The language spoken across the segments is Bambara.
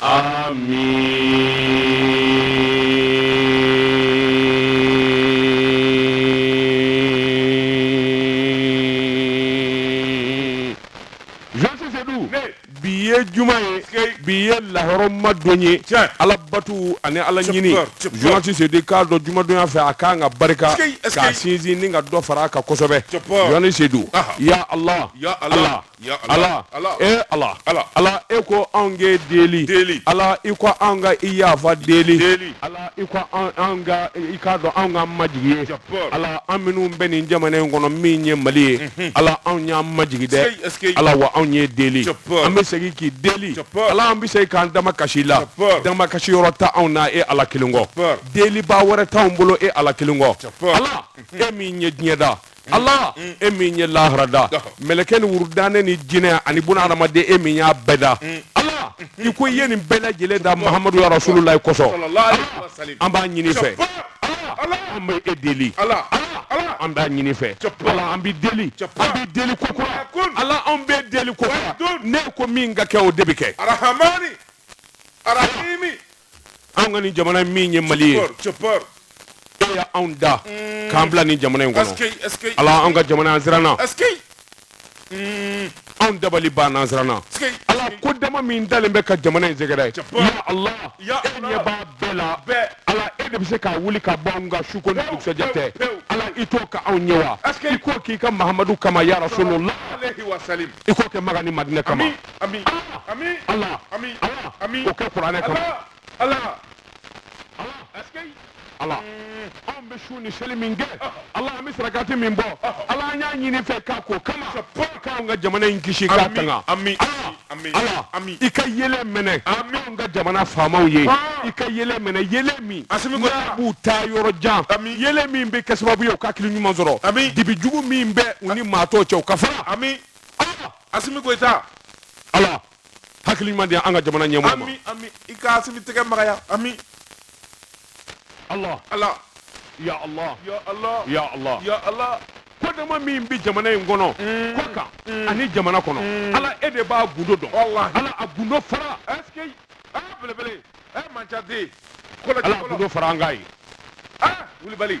Ami bi ye juma ye bi ye lahɔrɔma don ye ala batu ani ala ɲininti se k'a dɔn jumadonya fɛ a k'an ka barika k'a sinsin ni ka dɔ fara a kan kosɛbɛ sedu ala ala Ala ala e ala ala ala e ko anw k'e deli ala i ko an ka i yafa deli ala i i k'a dɔn an ka majigin ala an minnu bɛ nin jamana in kɔnɔ min ye mali ye mhm. ala anw y'an majigin dɛ ala wa anw y'e deli an bɛ segin k'i deli ala an bɛ se k'an damakasi la damakasi yɔrɔ t'anw na e ala kelen kɔ deli ba wɛrɛ t'an bolo e ala kelen kɔ ala mhm. e min ye diɲɛ da ala e min ye lahara da mɛlɛkɛ ni wurudnen ni jinɛ ani bun hadamaden e min y'a bɛɛ da ala i ko i ye nin bɛɛ lajɛlen da mahamadu ya rasulullah kosɔn an b'a ɲini i fɛ an bɛ e deli ala an b'a ɲini i fɛ an bɛ deli bɛ deli ko ala an bɛ deli ko n'e ko min ka kɛ o de bɛ kɛ arahamani arahimi anw ka ni jamana min ye mali ye e y'anw da mm. k'an bila ni jamana in kɔnɔ ala anw ka jamana an siranna mm. anw dabali banna an siranna ala ko dama min dalen bɛ ka jamana in sɛgɛrɛ ya ala e ɲɛ b'a bɛɛ la ala e de bɛ se k'a wuli ka bɔ anw ka suko ni dugusɛjɛ cɛ ala i t'o kɛ anw ye wa i k'o k'i ka mahamadu kama ya rasulullah i k'o kɛ maka ni madinɛ kama ami ami ala ami ami o kɛ kuranɛ kama ala ala anw bɛ sun ni seli min kɛ ala an bɛ sarakati min bɔ ala an y'a ɲini i fɛ k'a k'o kama k'anw ka jamana in kisi k'a tanga ala i ka yeelen minɛ anw ka jamana faamaw ye i ka yeelen minɛ yeelen min n'a b'u taa yɔrɔ jan yeelen min bɛ kɛ sababu ye u ka hakili ɲuman sɔrɔ dibi jugu min bɛ u ni maa tɔ cɛ o ka fara asimi goyita ala hakili ɲuman di an ka jamana ɲɛmɔgɔ ma ami ami i ka asimi tɛgɛ magaya ami ala ala ya ala ya ala ya ala ya ala kodama min bɛ jamana in kɔnɔ mm. kɔkan mm. ani jamana kɔnɔ mm. ala e de b'a gundo dɔn ala a gundo fara ɛseke aa belebele ɛ manca den kɔlɔsi fɔlɔ ala gundo fara an ka ye aa wulibali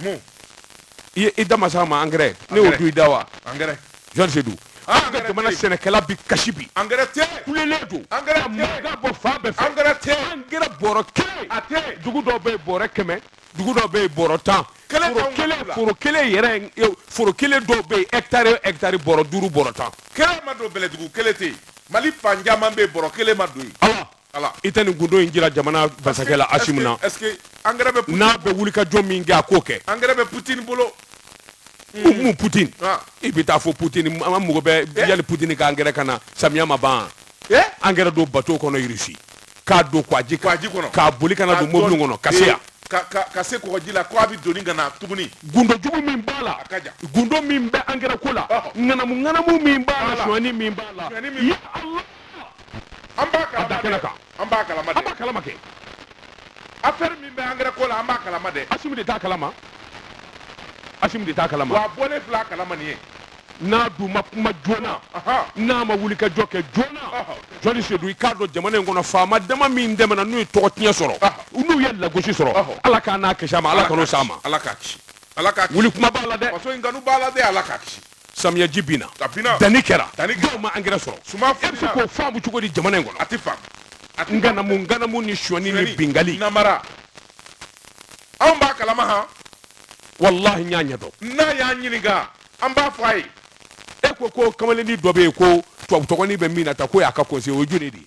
mun i da ma s'a ma angɛrɛ ne y'o don i da wa angɛrɛ jɔni sedu ah, an ka jamana sɛnɛkɛla bi kasi bi angɛrɛ tɛ kulelen don angɛrɛ tɛ ka bɔ fan bɛɛ fɛ angɛrɛ tɛ angɛrɛ bɔrɔ kelen a tɛ dugu dɔw bɛ yen bɔrɛ kɛmɛ dugu dɔw bɛ yen bɔrɔ tan foro kelen yɛrɛ foro kelen dɔw bɛ yen hɛkitari hɛkitari bɔrɔ duuru bɔrɔ tan kelen ma don bɛlɛdugu kelen tɛ yen mali fan caman bɛ yen bɔrɔ kelen ma don yen i tɛ nin gundo in jira jamana masakɛ la Asimi na n'a bɛ wulikajɔ min kɛ a k'o kɛ angɛrɛ bɛ Poutine bolo hukumu Poutine ah. i bɛ taa fɔ Poutine an mago bɛ eh? yanni Poutine ka angɛrɛ ka na samiya ma ban eh? angɛrɛ don bateau kɔnɔ Russie k'a don kwaji kɔnɔ k'a boli ka na don mobili kɔnɔ ka se yan ka se kɔgɔji la ko a bɛ doni ka na tuguni gundo jugu min b'a la gundo min bɛ angɛrɛ ko la ŋanamu ŋanamu min b'a la suɲɛni min b'a la ya Allah an b'a kalama dɛ an b'a kalama dɛ an b'a kalama kɛ affaire min bɛ angɛrɛ ko la an b'a kalama dɛ Asimi de t'a kalama Asimi de t'a kalama wa a bɔlen filɛ a kalama nin ye n'a dun ma kuma joona n'a ma wuli ka jɔ kɛ joona jɔni sedu i k'a dɔn jamana in kɔnɔ faama dama min tɛmɛna n'u ye tɔgɔ tiɲɛ sɔrɔ n'u ye lagosi sɔrɔ ala k'a n'a kisi a ma ala kan'o s'a ma ala k'a kisi ala k'a kisi wuli kuma b'a la dɛ faso in kanu b'a la dɛ ala k'a kisi samiyaji binna a binna danni kɛra danni kɛra dɔw ma angɛrɛ sɔrɔ suma e bɛ se k'o faamu cogo di jamana in kɔnɔ a tɛ faamu a tɛ ŋanamu ŋanamu ni suɲɛni ni binkanni namara anw b'a kalama han walahi n y'a ɲɛdɔn n'a y'a ɲininka an b'a fɔ a ye e ko ko kamalennin dɔ bɛ yen ko tubabu tɔgɔnin bɛ min na ta k'o y'a ka conseiller o ye junior de ye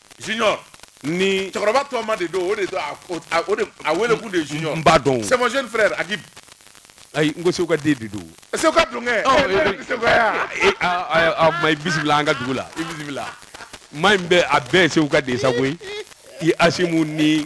junior nin cɛkɔrɔba tɔma de don o de a wele kun de junior n b'a dɔn c'est mon jeune frère Agib ayi n ko segu ka den de don segu ka don kɛ a ma i bisimila an ka dugu la i bisimila maa in bɛ a bɛɛ segu ka den sa koyi i Asimi ni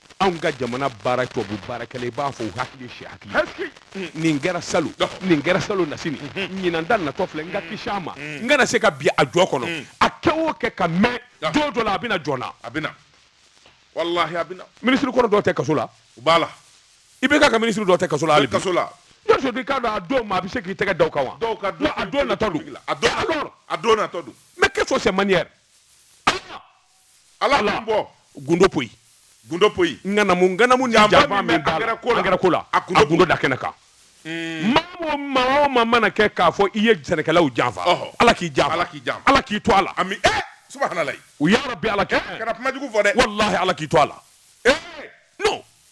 anw ka jamana baara tubabu baarakɛla i b'a fɔ u hakili si hakili nin kɛra salon nin kɛra salon nasini ɲinan ta natɔ filɛ n ka kisi a ma n kana se ka bin a jɔ kɔnɔ a kɛ o kɛ ka mɛn don dɔ la a bɛna jɔn na a bɛna walahi a bɛna minisiri kɔrɔ dɔw tɛ kaso la u b'a la i bɛ ka ka minisiri dɔw tɛ kaso la hali bi kaso la jɔni sedu i k'a dɔn a don ma a bɛ se k'i tɛgɛ da o kan wa dɔw ka a don natɔ don a don natɔ don mais qu'est-ce que c'est manière ala la bɔ gundo poyi gundo poyi ŋanamu ŋanamu ni janfa min b'a la angɛrɛ ko la a gundo da kɛnɛ kan hmm. maa o maa o maa mana kɛ k'a fɔ i ye sɛnɛkɛlaw janfa ala k'i janfa ala k'i janfa ala k'i to a la ami ɛ eh, subahana layi u ya rabbi ala kɛ eh, kana kuma jugu fɔ dɛ walahi ala k'i to a la ee eh, non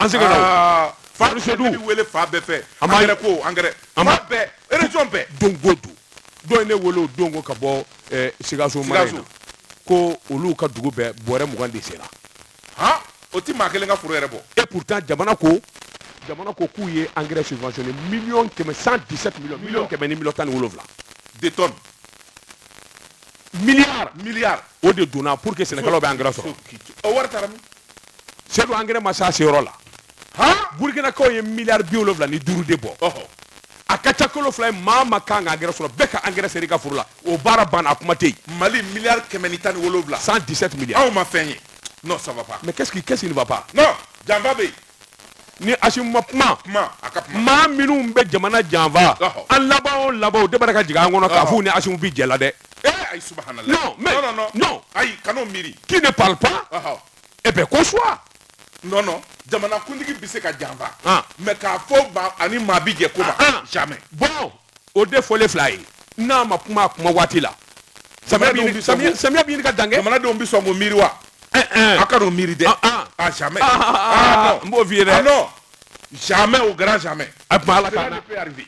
an sɛgɛnna o. fa Madu Sedu. ne bɛ wele fan bɛɛ fɛ An b'a- angɛrɛ ko angɛrɛ An b'a- fan bɛɛ région bɛɛ don ko don dɔ ye ne wele o don ko ka bɔ eh, sikaso mara in na Sikaso. ko olu ka dugu bɛɛ bɔrɛ mugan de sera han o ti maa kelen ka foro yɛrɛ bɔ et pourtant jamana ko jamana ko k'u ye engrais subventionné million kɛmɛ 117 million million kɛmɛ ni million tan ni wolonwula de tonne milliard milliard o de donna pour que sɛnɛkɛlaw bɛ engrais sɔrɔ o wari taara min sedu angɛrɛ ma se a seyɔrɔ la burkinakaw ye miliyari bi wolonwula ni duuru de bɔ a ka ca kalo fila ye maa ma kan ka angɛrɛ sɔrɔ bɛɛ ka angɛrɛ seri ka foro la o baara banna a kuma tɛ yen mali miliyari kɛmɛ ni tan ni wolonwula 117 miliyari anw ma fɛn ye non ça va pas mais qu'est-ce qui qu'est-ce qui ne va pas non janfa bɛ yen ni asimu ma kuma kuma a ka kuma maa minnu bɛ jamana janfa an laban o laban o de bɛ ka jigin an kɔnɔ k'a f'u ni asimu bi jɛ la dɛ eh ayi subhanallah non mais non non ayi kan'o miiri qui ne parle pas eh bien consent non non jamanakuntigi bɛ se ka janfa ah. mais k'a fɔ ba a ni maa bi jɛ ko ma ah, ah. jamais bon o de fɔlen filɛ ye n'a ma kuma a kuma waati la samiya bɛ ɲini ka dan kɛ jamanadenw bɛ sɔn k'o miiri wa eh, eh. a kan'o miiri dɛ ah jamais n b'o f'i ye dɛ non jamais au grand jamais a tuma ala ka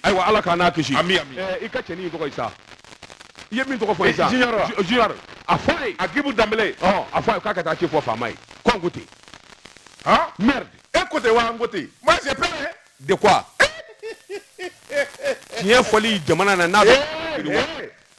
ayiwa ala k'an n'a kisi ami ami i ka cɛnin tɔgɔ ye sa i ye min tɔgɔ fɔ ye sa junior junior a fɔ a ye agibu danbele ɔ a fɔ a ye k'a ka taa ci fɔ faama ye ko n ko ten han merde e ko ten wa n ko ten moi j'ai peur de quoi tiɲɛ fɔli jamana na n'a bɛ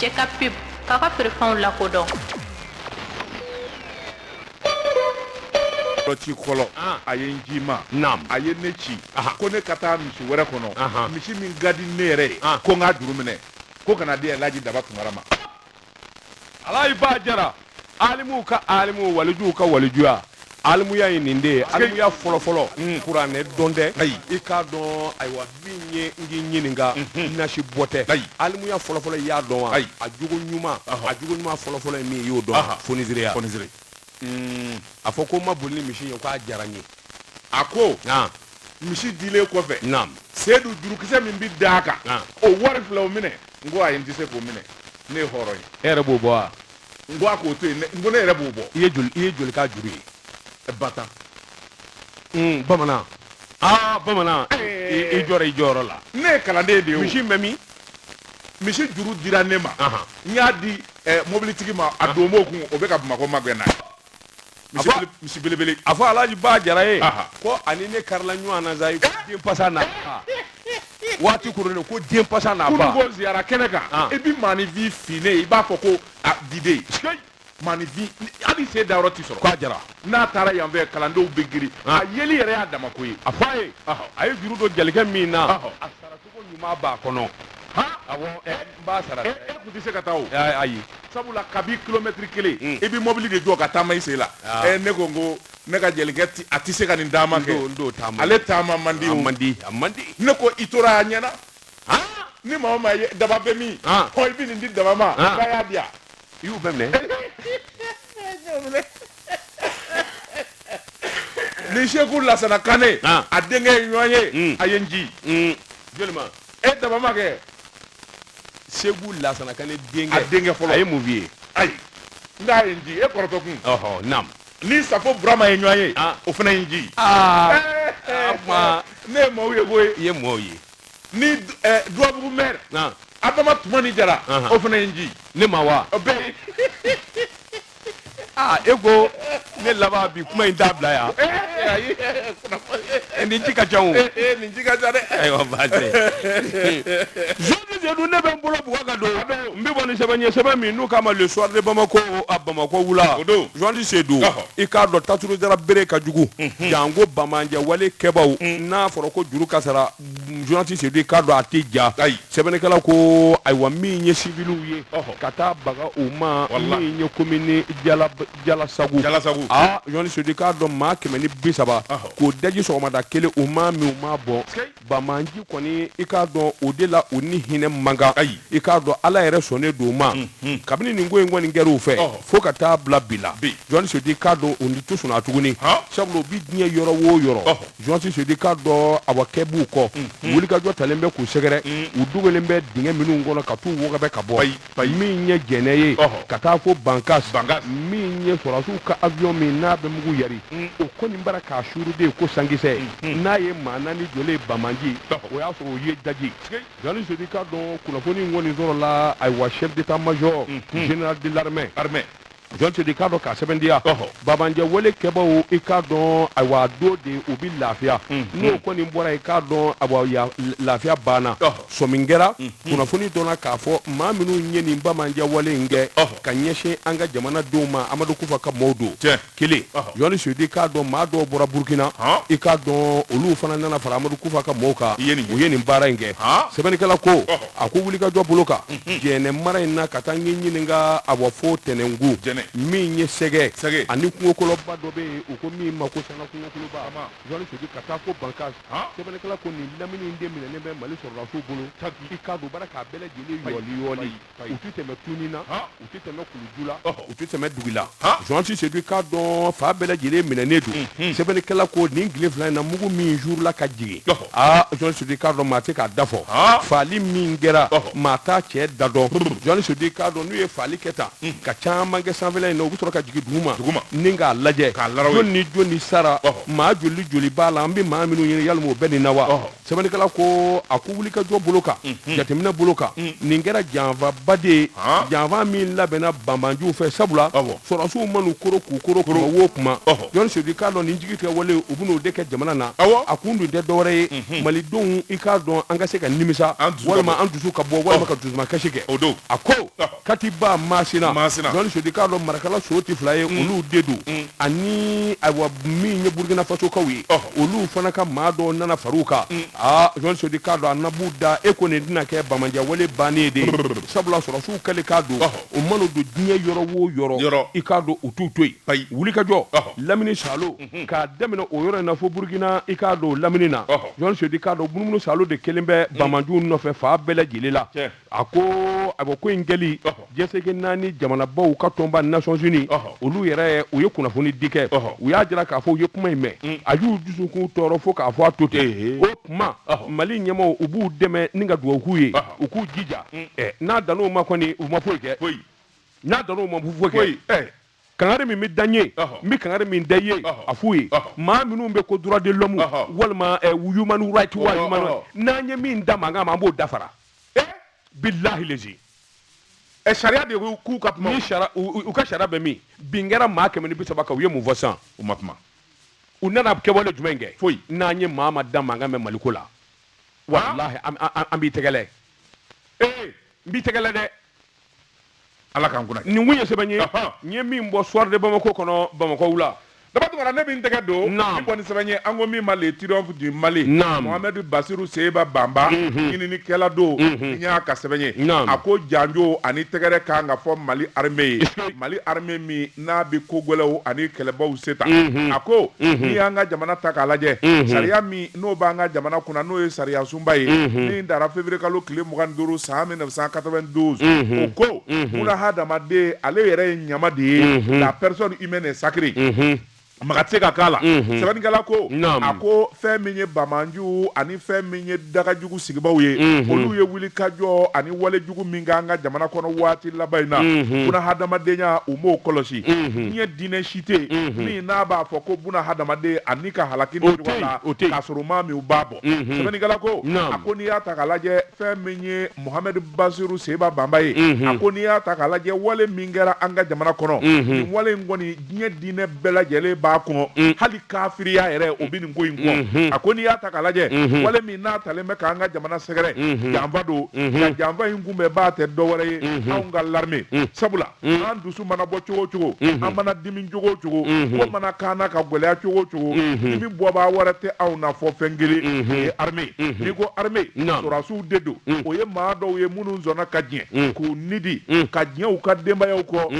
Jɛ ka pe ka ka perefw la kodɔn ci fɔlɔ a ye n ci min na a ye ne ci ko ne ka taa misi wɛrɛ kɔnɔ misi min ka di ne yɛrɛ ye ko n k'a juru minɛ ko ka n'a di laji daba tunkara ma alayi ba jara alimuw ka alimu walijuw ka walijuya alimuya ye nin de ye alimuya fɔlɔfɔlɔ mm. kuranɛ dɔn tɛ i k'a dɔn ayiwa min ye n k'i ɲininka mm-hmm. nasi bɔ tɛ alimuya fɔlɔfɔlɔ i y'a dɔn wa a jogo ɲuman a jogo ɲuman fɔlɔfɔlɔ ye min ye i y'o dɔn fonisereya mm. a fɔ ko n ma boli ni misi ye k'a diyara n ye a ko misi dilen kɔfɛ seyidu jurukisɛ min bɛ da a kan o wari filɛ o minɛ n ko ayi n tɛ se k'o minɛ ne ye hɔrɔn ye e yɛrɛ b'o bɔ wa n ko a k'o to yen n ko ne yɛrɛ b'o bɔ i ye joli i ye joli k'a juru ye e ba tan hmm, bamanan aa bamanan eh. i jɔra i jɔyɔrɔ la ne ye kalanden de ye misi bɛ min misi juru dira ne ma n y'a di eh, mobilitigi ma a don b'o kun o bɛ ka bamakɔ magɛn na misi belebele a fɔ alaji ba jara ye ko ani ne karila ɲɔgɔn na sa ko den pasa na waati kurulen ko den pasa na ba ko ziyara kɛnɛ kan ah. i bɛ maanifin finnen i b'a fɔ ko diden maanifin hali sen dayɔrɔ ti sɔrɔ k'a jara n'a taara yan fɛ kalandenw bɛ girin ah. a yeli yɛrɛ y'a dama ko ye a fɔ a ye a ye juru don jelikɛ min na a sara cogo ɲuman b'a kɔnɔ awɔ n b'a sara e kun tɛ se ka taa o ayi sabula kabi kilomɛtiri kelen hmm. i bɛ mɔbili de jɔ ka taama i sen la ah. ɛ ne ko n ko ne ka jelikɛ ti a tɛ se ka nin taama kɛ ale taama man di o man di a man di ne ko i tora a ɲɛna ni maa o maa ye daba bɛ min ah. ɔ i bɛ nin di daba ma ah. k'a y'a di yan i y'u bɛɛ minɛ ni segu lasana kane ah. a denkɛ ye ɲɔgɔn ye hmm. a ye n ji hmm. joli ma e daba ma kɛ segu lasana kane denkɛ a denkɛ fɔlɔ a ye mun ye ayi n k'a ye n ji e kɔrɔtɔ kun ɔhɔ naam ni safo burama ye ɲɔgɔn ye ah. o fana ye n ji aa eh, eh, eh. ne ye maaw ye koyi i ye maaw ye ni duwabugu mɛri adama tumani jara o fana ye n ji ne ma wa bɛɛ aa e ko ne laban bi kuma in t'a bila yan eh, nin ji ka ca o eh, eh, nin ji ka ca dɛ ayiwa baasi zoni sedu ne bɛ n bolo bugɔ ka don n bɛ bɔ ni sɛbɛn ye sɛbɛn min n'u k'a ma le soir de bamako a bamako wula zoni sedu i k'a dɔn tajuru sara bere ka jugu mhm. janko bamanjɛ wale kɛbaaw mhm. n'a fɔra ko juru ka sara zoni sedu i k'a dɔn a tɛ ja ayi sɛbɛnnikɛla ko ayiwa min ye civiliw ye ka taa baga u ma min ye commune jala jalasagu jalasagu ah zoni sedu i k'a dɔn maa kɛmɛ ni bi saba k'o daji sɔgɔmada kelen u ma min u ma bɔ bamanji kɔni i k'a dɔn o de la u ni hinɛ man kan ayi i k'a dɔn ala yɛrɛ sɔnnen don u ma kabini nin ko in kɔni kɛra u fɛ fo ka taa bila bi la zoni sedu i k'a dɔn u ni to sɔnna tuguni sabu u bi diɲɛ yɔrɔ o yɔrɔ zoni sedu i k'a dɔn a wa kɛ b'u kɔ mm-hmm. wulikajɔ talen bɛ k'u sɛgɛrɛ mm-hmm. u dogolen bɛ dingɛ minnu kɔnɔ ka t'u wɔgɔbɛ ka bɔ min ye jɛnɛ ye ka taa fo bankas min ye sɔrɔdasiw ka avion min n'a bɛ mugu yari mm. o kɔni b'a la k'a suuru de ko sankisɛ mm-hmm. n'a ye maa naani jɔlen bamanji o y'a sɔrɔ o ye daji zoni sedu i k'a dɔn kunnafoni in kɔni sɔrɔla ayiwa chef d'état major général de l'armée zoni sedu i k'a dɔn k'a sɛbɛntiya bamanjɛ wale kɛbaaw i k'a dɔn ayiwa dogo de u bɛ lafiya n'o kɔni bɔra i k'a dɔn ayiwa lafiya banna sɔmin kɛra kunnafoni dɔnna k'a fɔ maa minnu ye nin bamanjɛ wale in kɛ ka ɲɛsin an ka jamana denw ma amadu kufa ka maaw don kelen zoni sedu i k'a dɔn maa dɔw bɔra burukina i k'a dɔn olu fana nana fara amadu kufa ka mɔgɔw kan u ye nin baara in kɛ sɛbɛnnikɛla ko a ko wulikajɔ bolo kan mhm. jɛnɛ mara in na ka taa n ye ɲininka ayiwa fo tɛnɛngu min ye sɛgɛ ani kungokoloba dɔ bɛ yen u ko min ma ko sanga kungokoloba jɔni sedu ka taa fo bankas sɛbɛnnikɛla ko nin lamini in de minɛnen bɛ mali sɔrɔdasiw bolo i k'a dɔn baara k'a bɛɛ lajɛlen yɔɔli yɔɔli u ti tɛmɛ tuni na u tɛ tɛmɛ kuluju la u tɛ tɛmɛ dugu la jɔni sedu k'a dɔn fan bɛɛ lajɛlen minɛnen don sɛbɛnnikɛla ko nin tile fila in na mugu min suurula ka jigin aa jɔni sedu k'a dɔn maa tɛ k'a da fɔ faali min kɛra maa t'a cɛ da dɔn jɔni sedu k'a dɔn n'u ye faali kɛ tan ka caman kɛ sanfɛ in na u bɛ sɔrɔ ka jigin duguma duguma ni k'a lajɛ k'a la ni jɔn ni sara maa joli joli b'a la an bɛ maa minnu ɲini yali o bɛ nin na wa sɛbɛnnikɛla ko a ko wulikajɔ bolo kan mhm. jateminɛ bolo kan mhm. nin kɛra janfaba de ye janfa min labɛnna banbaanciw fɛ sabula sɔrɔdasiw man'u koro k'u koro kuma o kuma jɔni sedu k'a dɔn nin jigitigɛ wale u bɛn'o de kɛ jamana na a kun dun tɛ dɔwɛrɛ ye mhm. malidenw i k'a dɔn an ka se ka nimisa walima an dusu ka bɔ walima ka dusumakasi kɛ a ko katiba masina jɔni sedu k'a dɔn marakala so tɛ fila ye mm. olu de don mm. ani ayiwa min ye burukina fasokaw ye oh. olu fana ka maa dɔw nana far'u kan mm. aa jɔni sedu k'a dɔn a nabu da e ko nin tɛna kɛ banbaanciya wale bannen de ye sabula sɔrɔdasiw kɛlen ka don oh. o mana don diɲɛ yɔrɔ o yɔrɔ i k'a dɔn u t'u to yen wulikajɔ oh. lamini saalo mm-hmm. k'a daminɛ o yɔrɔ in na fo burukina i k'a dɔn lamini na jɔni sedu k'a dɔn munumunu saalo de kɛlen bɛ banbaanciw nɔfɛ fan bɛɛ lajɛlen la a ko a ko ko in kɛli jɛsegin naani jamanabaw ka tɔnba nations unies olu yɛrɛ u ye kunnafoni di kɛ u y'a jira k'a fɔ u ye kuma in mɛn mm. a y'u dusukun tɔɔrɔ fo k'a fɔ a to ten o kuma mali ɲɛmaaw u b'u dɛmɛ ni ka dugawu k'u ye u k'u jija mm. n'a dan'o ma kɔni u ma foyi kɛ n'a dan'o ma foyi kɛ kangari min bɛ da n ye n bɛ kangari min da i ye a f'u ye maa minnu bɛ ko droit de l'homme walima eh, human right wa human right n'an ye min da mankan mɛn an b'o dafara eh? bilahi lezi eh, sariya de ko k'u ka kuma ni sariya u ka sariya bɛ min bin kɛra maa kɛmɛ ni bi saba kan u ye mun fɔ sisan u ma kuma u nana kɛwale jumɛn kɛ foyi n'an ye maa ma da mankan mɛn maliko la walahi an b'i tɛgɛlɛ ee n b'i tɛgɛlɛ dɛ ala k'an kunna nin kun ye sɛbɛn ye n ye min bɔ soir de bamako kɔnɔ bamako wula daba tunkara ne bɛ n tɛgɛ don min bɔ ni sɛbɛn ye an ko min ma le triomphe du mali mohamɛdu basiru seba banba mhm. ɲininikɛla don mhm. n y'a ka sɛbɛn ye a ko janjo ani tɛgɛrɛ kan ka fɔ mali armée ye mali armée min n'a bɛ ko gɛlɛnw ani kɛlɛbaw se ta a ko n'i y'an ka jamana ta k'a lajɛ sariya min n'o b'an ka jamana kunna n'o ye sariya sunba ye min dara février kalo tile mugan ni duuru san mille neuf cent quatre-vingt-douze o ko munna hadamaden ale yɛrɛ ye ɲama de ye la personne humaine est sacrée maga tɛ se ka k'a la mhm. sɛbɛnnikɛla ko a ko fɛn min ye bamanju ani fɛn min ye dagajugu sigibaw ye mhm. olu ye wulikajɔ ani walejugu min kɛ an ka jamana kɔnɔ waati laban in na mhm. buna hadamadenya u m'o kɔlɔsi diɲɛ diinɛ si tɛ min n'a b'a fɔ ko buna hadamaden ani ka halaki ni ɲɔgɔn la k'a sɔrɔ maa minnu b'a bɔ sɛbɛnnikɛla ko a ko n'i y'a ta k'a lajɛ fɛn min ye mohamed basiru seba banba ye a ko n'i y'a ta k'a lajɛ wale min kɛra an ka jamana kɔnɔ nin wale in kɔni diɲɛ diinɛ bɛɛ lajɛlen b'a kɔn mm. hali kafiriya yɛrɛ o bɛ nin ko in kɔn mm-hmm. a ko n'i y'a ta k'a lajɛ mm-hmm. wale min n'a talen bɛ k'an ka jamana sɛgɛrɛ mm-hmm. janfa don nka janfa in kunbɛnbaa tɛ dɔwɛrɛ ye anw ka l'armée mm. sabula mm. an dusu mana bɔ cogo o cogo an mana dimi cogo o cogo ko mana k'an na ka gɛlɛya cogo o cogo dimi bɔbaa wɛrɛ tɛ anw na fɔ fɛn kelen o ye armée n'i ko armée sɔrɔdasiw de don o ye maa dɔw ye minnu sɔnna ka diɲɛ k'u ni di ka diɲɛ u ka denbayaw kɔ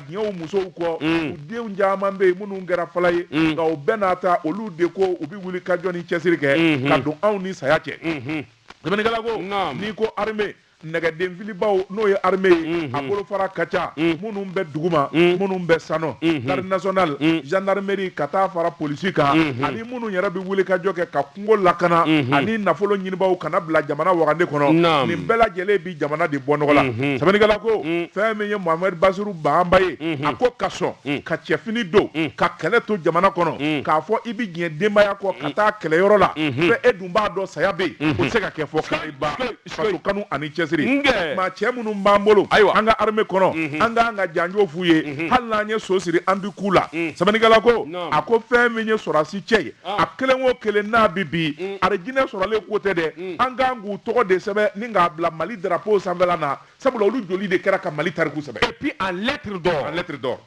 ɲɛ u musow kɔ mm. u denw caman bɛ yen minnu kɛra fala ye mm. nka o bɛɛ n'a ta olu de ko u bɛ wuli ka jɔ ni cɛsiri kɛ mm-hmm. ka don anw ni saya cɛ mm-hmm. sɛbɛnnikɛla ko n'i ko armée nɛgɛdenfilibaw n'o ye armée ye mm-hmm. a bolofara ka ca minnu bɛ duguma minnu bɛ sanɔ garde nationale gendarmerie ka taa fara polisi kan ani minnu yɛrɛ bɛ wuli ka jɔ kɛ ka kungo lakana ani nafolo ɲinibaaw ka n'a bila jamana wagande kɔnɔ nin bɛɛ lajɛlen bi jamana de bɔ nɔgɔ la sɛbɛnnikɛla ko fɛn min ye mohamed basiru banba ye a ko ka sɔn ka cɛfini don ka kɛlɛ to jamana kɔnɔ k'a fɔ i bɛ diɲɛ denbaya kɔ ka taa kɛlɛyɔrɔ la fɛ e dun b'a dɔn saya bɛ yen o tɛ se ka kɛ fɔ kariba faso kanu ani cɛsiri maa cɛ minnu b'an bolo an ka armée kɔnɔ mhm. an k'an ka janjo f'u ye mhm. hali n'an ye so siri an bi k'u la mhm. sɛbɛnnikɛla ko a ko fɛn min ye sɔrɔdasi cɛ ye ah. a kelen o kelen n'a bi bi mm. arijinɛ sɔrɔlen ko tɛ dɛ mm. an k'an k'u tɔgɔ de sɛbɛn ni k'a bila mali drapeau sanfɛla na sabula olu joli de kɛra ka mali tariku sɛbɛn et puis en lettre d'or en lettre d'or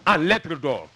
en lettre d'or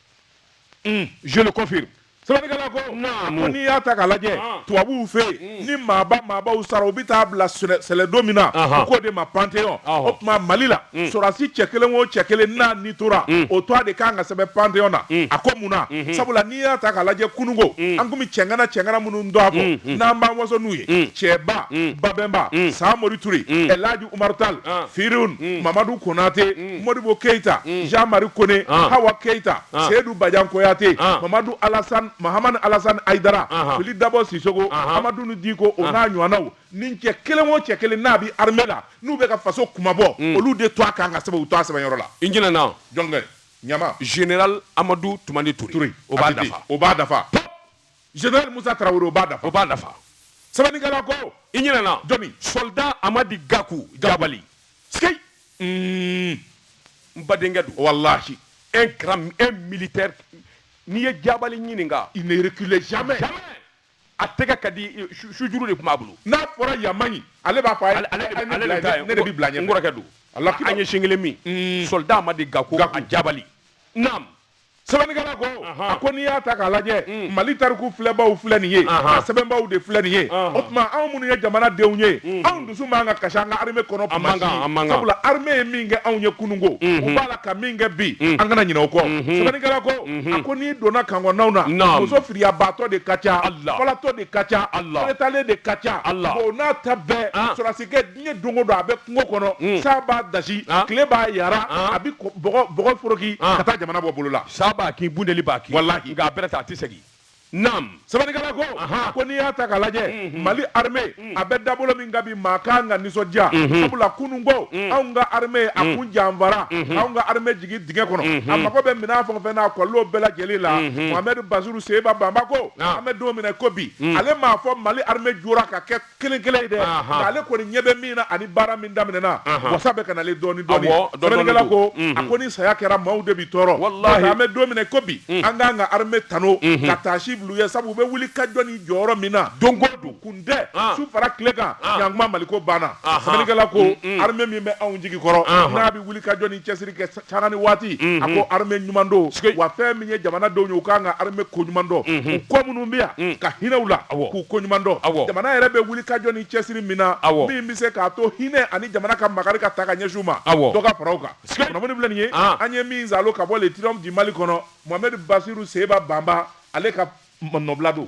mm. je le confirme Sɛbɛnnikɛla ko naamu ko n'i y'a ta k'a lajɛ Ɔn. tubabuw fɛ yen ni maaba maabaw sara u bɛ taa bila sɛlɛ- sɛlɛdo min na Ahan. u k'o de ma panteɔn Ɔhɔ. o tuma mali la sɔrɔdasi cɛ kelen o cɛ kelen n'a ni tora o tɔgɔ de kan ka sɛbɛn panteɔn na a ko mun na sabula n'i y'a ta k'a lajɛ kununko an kun bɛ cɛŋana cɛŋana minnu dɔn a ko n'an b'an waso n'u ye cɛba babɛnba samori ture ɛlaji Umaru tal firun mamadu konatɛ modibo keyita jean-marie kone hawa keyita seyidu bajan kuyate mamadu mahamani alasani ayidara fili dabɔ sisɔkɔ amaduni diko o n'a ɲɔgɔnnaw ni cɛ kelen o cɛ kelen n'a bɛ armée la n'u bɛ ka faso kunmabɔ olu de tɔgɔ kan ka sɛbɛn u tɔgɔ sɛbɛnyɔrɔ la i ɲinɛna jɔn kɔ ɲa général amadu tumani ture o b'a dafa Général Moussa Traoré o b'a dafa. O b'a dafa. Sɛbɛnnikɛla ko. I ɲinɛna. Jɔni. Soldat Amadi Gakou Jabali. C'est qui? Uun. N badenkɛ don. Walahi. Un grand un militaire n'i ye Jabali ɲininka. Il ne recule jamais. Jamais. a tɛgɛ ka di sujuru de tun b'a bolo n'a fɔra yan man ɲi ale b'a fɔ a ye ne de bɛ bila ɲɛ n kɔrɔkɛ don an ye sin kelen min soldat Amadi Gakou Jabali naam sɛbɛnnikɛla ko a ko n'i y'a ta k'a lajɛ mm. mali tariku filɛbaw filɛ nin ye a sɛbɛnbaw de filɛ nin ye o tuma anw minnu ye jamanadenw ye mm. anw dusu man ka kasi an ka armée kɔnɔ tuma si sabula armée ye min kɛ anw ye kununko mm-hmm. u b'a la ka min kɛ bi mm. an kana ɲinɛ o kɔ mm-hmm. sɛbɛnnikɛla ko mm-hmm. a ko n'i donna camp kɔnɔnaw na muso firiyabaatɔ de ka ca falatɔ de ka ca fɛrɛtalen de ka ca o n'a ta bɛɛ ah. sɔrɔdasi diɲɛ don o don a bɛ kungo kɔnɔ hmm. san b'a dasi ah. tile b'a yara ah. a bɛ bɔgɔ foroki ah. ka taa jamana bɔ bolo la sa b'a kin bunteni b'a kin walahi nka a bɛrɛ ta a tɛ segin naam sɛbɛnnikɛla ko a ko n'i y'a ta k'a lajɛ hmm, hmm. mali arme a bɛ dabolo min kan bi maa kan ka nisɔndiya sabula kunun ko anw ka arme a kun janfara k'anw ka arme jigin dingɛ kɔnɔ a mago bɛ minɛn fɛn o fɛn na a kɔlɔlɔw bɛɛ lajɛlen la mohamɛdi basiru seba banba ko an bɛ don min na ko bi ale m'a fɔ mali arme jɔra ka kɛ kelen kelen ye dɛ Ahan. nka ale kɔni ɲɛ bɛ min na ani baara min daminɛna Ahan. wasa bɛ ka nalen dɔɔni dɔɔni Awɔ, dɔɔni dɔɔni sɛbɛnnikɛla ko don. Mhm. a ko ni saya kɛra maaw de bi tɔɔrɔ Walahi. Parce que an bɛ don min na i ko bi an k'an ka arme tanu ka taasi bil'u ye sabu u bɛ wuli ka jɔ ni jɔyɔrɔ min na Don o don. kun tɛ Ah. su fara tile kan Ah. yan kuma maliko banna Ahan. sɛbɛnnikɛla ko arme min bɛ anw jigi kɔrɔ Ahan. n'a bɛ wuli ka jɔ ni cɛsiri kɛ sanga ni waati a ko arme ɲuman don wa fɛn min ye jamanadenw ye u ka kan ka arme ko ɲuman dɔn u kɔ minnu bɛ yan ka hinɛ u la k'u ko ɲuman dɔn jamana yɛrɛ bɛ wuli ka jɔ ni cɛsiri min na min bɛ se k'a to hinɛ ani jamana ka makari ka taa ka ɲɛsin u ma dɔ ka fara o kan kunnafoni filɛ nin ye an ye min sɔrɔ ka bɔ le triomphe du mali kɔnɔ mohamɛdi basiru seba banba ale ka nɔbila don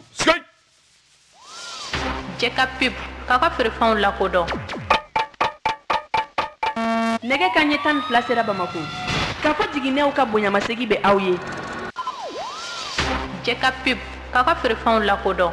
Jɛka pub k'aw ka feerefɛnw lakodɔn nɛgɛ kanɲɛ tan ni fila sera bamakɔ kafo jiginɛw ka bonyamasegin bɛ aw ye jɛka pub k'aw ka feerefɛnw lakodɔn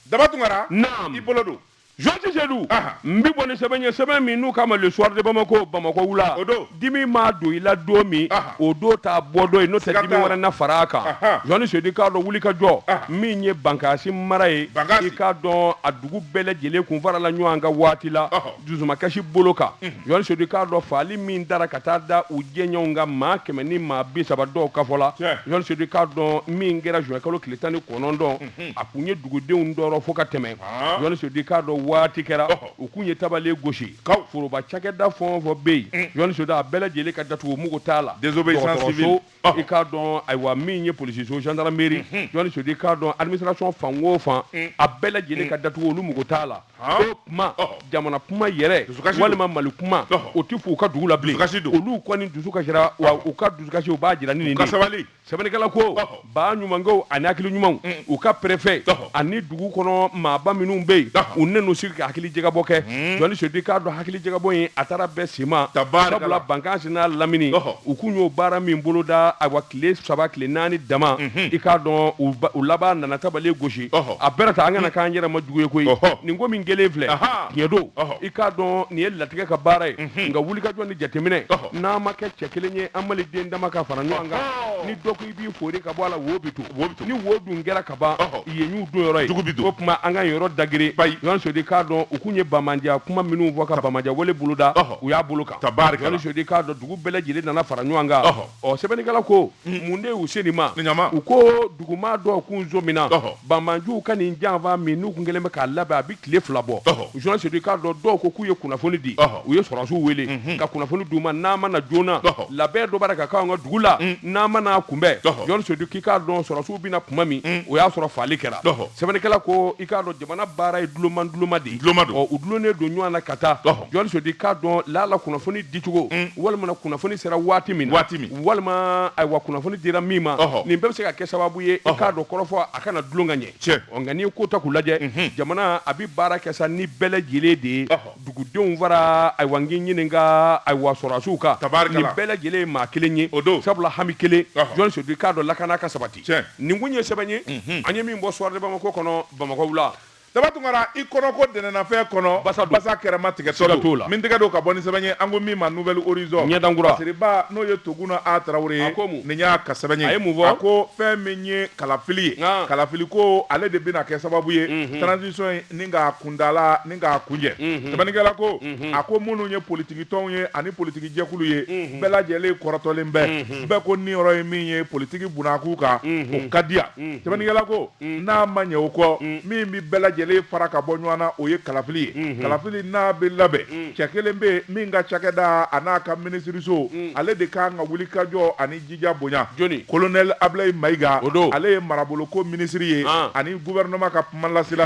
daba tunkara i bolo don Jɔsi sedu n bɛ bɔ ni sɛbɛn ye sɛbɛn min n'u ko a ma le soir de bamakɔ bamakɔ wula o don dimi maa don i la don min o don t'a bɔ don ye n'o tɛ dimi wɛrɛ na fara a kan jɔsi sedu i k'a dɔn wuli ka jɔ min ye bankasi mara ye i k'a dɔn a dugu bɛɛ lajɛlen kun farala ɲɔgɔn kan waati la dusumakasi bolo kan jɔsi sedu i k'a dɔn faali min dara ka taa da u jɛɲɔgɔnw kan maa kɛmɛ ni maa bi saba dɔw ka fɔ la jɔsi sedu i k'a dɔn min kɛra juin kalo tile tan ni kɔnɔntɔn a kun ye dugudenw tɔɔrɔ fo ka tɛmɛ jɔnni sedu k'a dɔn waati kɛra u kun ye tabale gosi ka foroba cakɛda fɛn o fɛn bɛ yen jɔnni sedu a bɛɛ lajɛlen ka datugu mago t'a la dɔgɔtɔrɔso i k'a dɔn ayiwa min ye polisiso gendarmerie jɔnni sedu k'a dɔn administration fan o fan a bɛɛ lajɛlen ka datugu olu mago t'a la o kuma jamana kuma yɛrɛ walima mali kuma o tɛ fɔ u ka dugu la bilen kasi don olu kɔni dusu kasira wa u ka dusukasi u b'a jira ni nin de ye sɛbɛnnikɛla ko baa ɲumankɛw ani hakili ɲumanw mm. u ka perefɛ ani dugu kɔnɔ maaba minnu bɛ yen u nan'u sigi ka hakili jagabɔ kɛ mm. jɔnni sedu k'a dɔn hakili jagabɔ in a taara bɛɛ sima sabula Bankasi n'a lamini u kun y'o baara min boloda awa tile saba tile naani dama mm-hmm. i k'a dɔn u laban nana tabale gosi a bɛɛ ta an kana mm. k'an yɛrɛ ma jugu ye koyi nin ko min kɛlen filɛ tiɲɛ don i k'a dɔn nin ye latigɛ ka baara ye mm-hmm. nka wulikajɔ ni jateminɛ n'a ma kɛ cɛ kelen ye an maliden dama ka fara ɲɔgɔn kan ni dɔ ko i b'i fori ka bɔ a la wo bi to ni wo dun kɛra ka ban yen y'u don yɔrɔ ye jugu bi don o tuma an ka yen yɔrɔ dageren bayi jɔnni sedu k'a dɔn u kun ye banbaanciya kuma minnu fɔ ka banbaanciya wale boloda u y'a bolo kan ka baari jɔnni sedu k'a dɔn dugu bɛɛ lajɛlen nana fara ɲɔgɔn kan ɔ sɛbɛnnikɛla ko mun de y'u se nin ma u ko duguma dɔw kun sɔmina banbaanciw ka nin janfa min n'u kun kɛlen bɛ k'a labɛn a bɛ tile fila bɔ jɔnni sedu k'a dɔn dɔw ko k'u ye kunnafoni di u ye sɔrɔdasiw wele mhm. ka kunnafoni d'u ma n'a ma na joona labɛn dɔ bɛ ka k'an ka dugu la mm. n'a ma n'a kunbɛn jɔnni sedu k'i k'a dɔn sɔrɔdasiw bɛ na kuma min mm. o y'a sɔrɔ faali kɛra sɛbɛnnikɛla ko i k'a dɔn jamana baara ye dulomanduloma de ye u dulonnen don ɲɔgɔn na ka taa jɔnni sedu k'a dɔn lala kunnafoni dicogo mm. walima kunnafoni sera waati min na walima ayiwa kunnafoni dira min ma nin bɛɛ bɛ se ka kɛ sababu ye i k'a dɔn kɔrɔfɔ a kana dulon ka ɲɛ nka n'i ye ko ta k'u lajɛ mhm. jamana a bɛ baara kɛ sa ni bɛɛ lajɛlen de ye dugudenw fara ayiwa n k'i ɲininka ayiwa sɔrɔdasiw kan nin bɛɛ lajɛlen ye maa kelen ye o don sabula hami kelen jɔnni sedu k'a dɔn lakana ka sabati nin kun ye sɛbɛn ye mhm. an ye min bɔ soir de bamakɔ kɔnɔ bamakɔ wula Daba Tunkara i kɔnɔ ko ntɛnɛnnafɛn kɔnɔ basa kɛrɛma tigɛ sira t'o la min tɛgɛ don ka bɔ ni sɛbɛn ye an ko min ma nouvel horizon ɲɛdankura Siriba n'o ye Toguna A Tarawele ye nin y'a ka sɛbɛn ye a ye mun fɔ a ko fɛn min ye kalafili ye kalafili ko ale de bɛna kɛ sababu ye transition in ni k'a kuntaala ni k'a kuncɛ sɛbɛnnikɛla ko a ko minnu ye politiki tɔnw ye ani politiki jɛkulu ye bɛɛ lajɛlen kɔrɔtɔlen bɛ bɛɛ ko niyɔrɔ ye min ye politiki bunakun kan o ka di yan sɛbɛnnikɛla ko Mm. n'a ma ɲɛ o kɔ mm. min bɛ bɛɛ lajɛlen fara ka bɔ ɲɔgɔn na o ye kalafili ye mm-hmm. kalafili n'a bɛ labɛn mm. cɛ kelen bɛ yen min ka cakɛda a n'a ka minisiriso ale de ka kan ka wulikajɔ ani jija bonya jɔni kolonɛli abilayi mayiga o don ale ye maraboloko minisiri ye ah. ani guvɛrɛnɛma ka kumalasela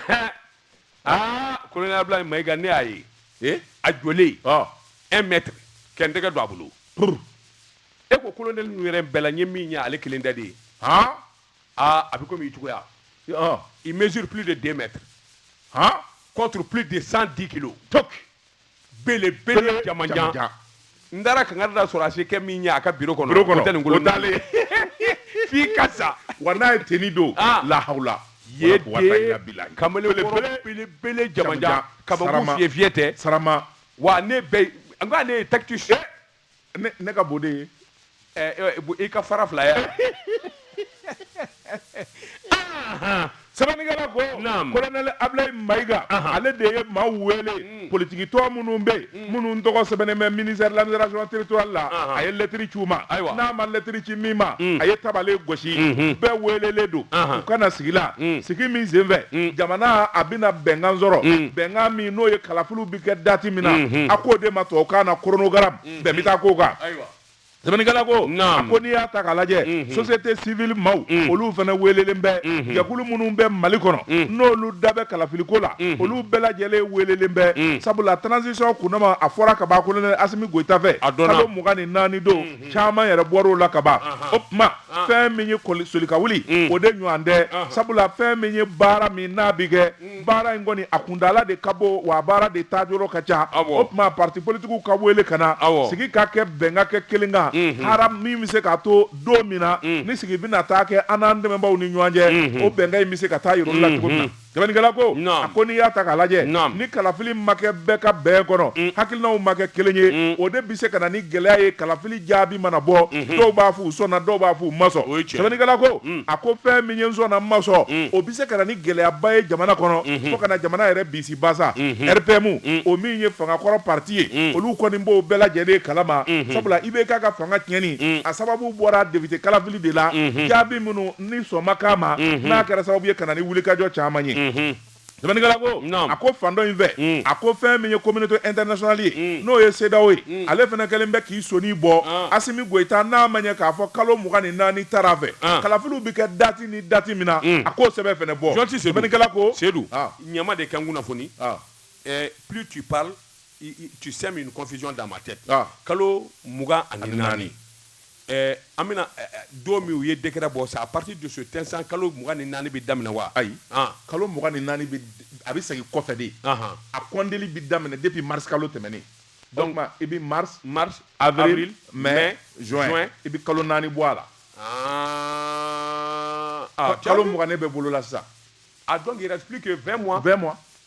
aa ah, kolonɛli abilayi mayiga ne y'a ye eh? a jɔlen ah. un mètre ka n tɛgɛ don a bolo e ko kolonɛli ninnu yɛrɛ bɛɛ la n ye min ye ale kelen da de ye aa a bɛ komi i cogoya ɔn il mesure plus de 2 mètres han contre plus de 110 kilos donc belebele jamanjan n taara kankari da sɔrɔdasikɛ min ɲɛ a ka biro kɔnɔ o tɛ nin bolo dalen f'i ka sa wa n'a ye tenue don ah. lahawula ye de kamalenkɔrɔ belebele jamanjan kabako fiyɛ tɛ sarama wa ne bɛ n ko ale ye tactus eh! ne ka bon de ye i ka fara fila ye sɛbɛnnikɛla ko kolonɛli Abilayi Mayiga ale de ye maaw wele mm. politikitɔn minnu bɛ yen mm. minnu tɔgɔ sɛbɛnnen bɛ ministère de l'administration territoriale la a ye lɛtiri ci u ma n'a ma lɛtiri ci min ma mm. a ye tabale gosi mm-hmm. bɛɛ welelen don u ka na sigi la sigi min senfɛ jamana a bɛna bɛnkan sɔrɔ bɛnkan min n'o ye kalafiliw kɛ dati min na a k'o de ma tubabukan na chronogramme bɛn bɛ taa k'o kan sɛbɛnnikɛla ko a ko n'i y'a ta k'a lajɛ société civile maaw olu fana welelen bɛ jɛkulu minnu bɛ Mali kɔnɔ n'olu da bɛ kalafiliko la olu bɛɛ lajɛlen welelen bɛ sabula transition kundama a fɔra kaban kolonɛli Asimi Goyita fɛ kalo mugan ni naani don caman yɛrɛ bɔr'o la kaban o tuma fɛn min ye solika wuli o de ɲɔgɔn tɛ sabula fɛn min ye baara min n'a bɛ kɛ baara in kɔni a kuntaala de ka bon wa baara de taa yɔrɔ ka ca o tuma parti politikiw ka wele ka na sigi ka kɛ bɛn ka kɛ kelen kan ha min bɛ se k'a to don min na ni sigi bɛna taa kɛ an n'an dɛmɛbaw ni ɲɔgɔn cɛ o bɛnkan in bɛ se ka taa yɔrɔ la cogo min na sɛbɛnnikɛla ko a ko n'i y'a ta k'a lajɛ ni kalafili ma kɛ bɛɛ ka bɛn kɔnɔ hakilinaw ma kɛ kelen ye o de bɛ se ka na ni gɛlɛya ye kalafili jaabi mana bɔ mhm. dɔw b'a fɔ u sɔnna dɔw b'a fɔ u ma sɔn sɛbɛnnikɛla ko mm. a ko fɛn min ye n sɔnna n ma sɔn mm. o bɛ se ka na ni gɛlɛyaba ye jamana kɔnɔ mhm. fo ka na jamana yɛrɛ bisi basa mhm. RPM mm. o min ye fangakɔrɔ parti ye olu kɔni b'o bɛɛ lajɛlen kalama sabula IBK ka fanga tiɲɛni a sababu bɔra député kalafili de la jaabi minnu ni sɔn ma k'a ma n'a kɛra sababu ye ka na ni wulikajɔ caman ye sɛbɛnnikɛla ko a ko fan dɔ in fɛ mm. a ko fɛn min ye communauté internationale ye mm. n'o ye CEDEAO ye mm. ale fana kɛlen bɛ k'i sɔnin bɔ ah. Asimi Goyita n'a maaw ɲɛ k'a fɔ kalo mugan ni naani tara a fɛ ah. kalafiliw bɛ kɛ dati ni dati min na a k'o sɛbɛn fana bɔ sɛbɛnnikɛla ko Sedu ah. ɲama de ka n kunnafoni eh, plus tu parles tu sèmes une confusion dans ma tête kalo mugan ani naani Ɛɛ an bɛna don min u ye décret bɔ c'est à partir de cet instant kalo mugan ni naani bɛ daminɛ wa ayi kalo mugan ni naani a bɛ segin kɔfɛ de a kɔnteli bɛ daminɛ depuis mars kalo tɛmɛnen i bɛ mars avril mai juin i bɛ kalo naani bɔ a la aa kalo mugan ne bɛ bolo la sisan donc il reste plus que 20 mois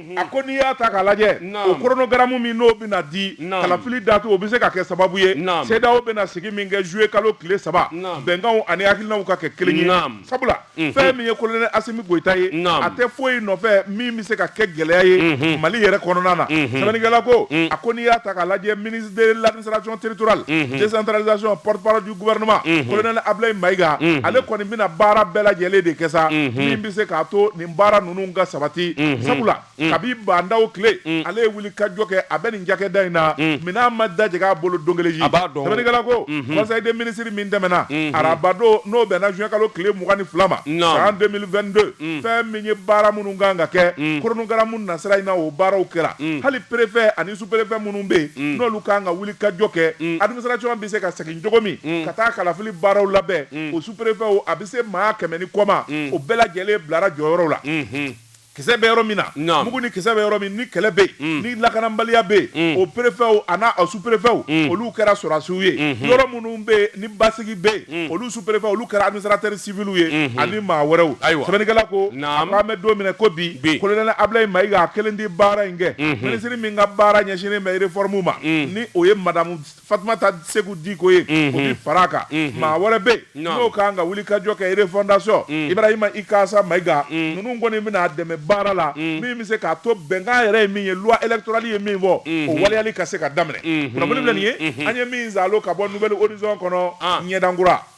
mhm. a ko n'i y'a ta k'a lajɛ o koronogaramu min n'o bɛna di kalafili datu o bɛ se ka kɛ sababu ye CEDEAO bɛna sigi min kɛ juillet kalo tile saba bɛnkanw ani hakilinaw ka kɛ kelen ye sabula mhm. fɛn min ye kolonɛli asimi goyita ye a tɛ foyi nɔfɛ min bɛ se ka kɛ gɛlɛya ye mhm. mali yɛrɛ kɔnɔna na sɛbɛnnikɛla ko mm. a ko n'i y'a ta k'a lajɛ ministre de l'administration territoriale décentralisation porte-parole du gouvernement kolonɛli abulayi mayiga ale kɔni bɛna baara bɛɛ lajɛlen de kɛ sa min bɛ se k'a to baara ninnu ka sabati sabula kabi Ba Ndaw tile ale ye wuli ka jɔ kɛ a bɛ nin cakɛda in na minɛn ma dajigin a bolo don kelen si sɛbɛnnikɛla ko conseil des ministres min tɛmɛna arabadon n'o bɛnna zuwɛn kalo tile mugan ni fila ma san deux mille vingt-deux fɛn min ye baara minnu kan ka kɛ koronogaramu nasira in na o baaraw kɛra hali perefe ani superefe minnu bɛ yen n'olu kan ka wuli ka jɔ kɛ administration bɛ se ka segin cogo min ka taa kalafili baaraw labɛn perefew a bɛ se maa kɛmɛ ni kɔ ma o bɛɛ lajɛlen bilara jɔyɔrɔ la kisɛ bɛ yɔrɔ min na mugu ni kisɛ bɛ yɔrɔ min ni kɛlɛ bɛ yen ni lakanabaliya bɛ yen o perefew a n'a superefew olu kɛra sɔrɔdasiw ye yɔrɔ minnu bɛ yen ni basigi bɛ yen olu superefe olu kɛra administrateur civilw ye ani maa wɛrɛw sɛbɛnnikɛla ko an bɛ don min i ko bi kolonɛli abulayi mayiga a kelen tɛ baara in kɛ minisiri min ka baara ɲɛsinnen bɛ réforme ma ni o ye madamu fatumata seku diko ye o bɛ fara a kan maa wɛrɛ bɛ yen n'o kan ka wuli ka jɔ kɛ refɔndasɔn ibrahima ikasa mayiga ninnu kɔni bɛna a dɛmɛ baara la min bɛ se k'a to bɛnkan yɛrɛ ye min ye loi électorale ye min fɔ o waleyali ka se ka daminɛ o de filɛ nin ye an ye min sɔrɔ ka bɔ Nouvel Horizon kɔnɔ ɲɛdankura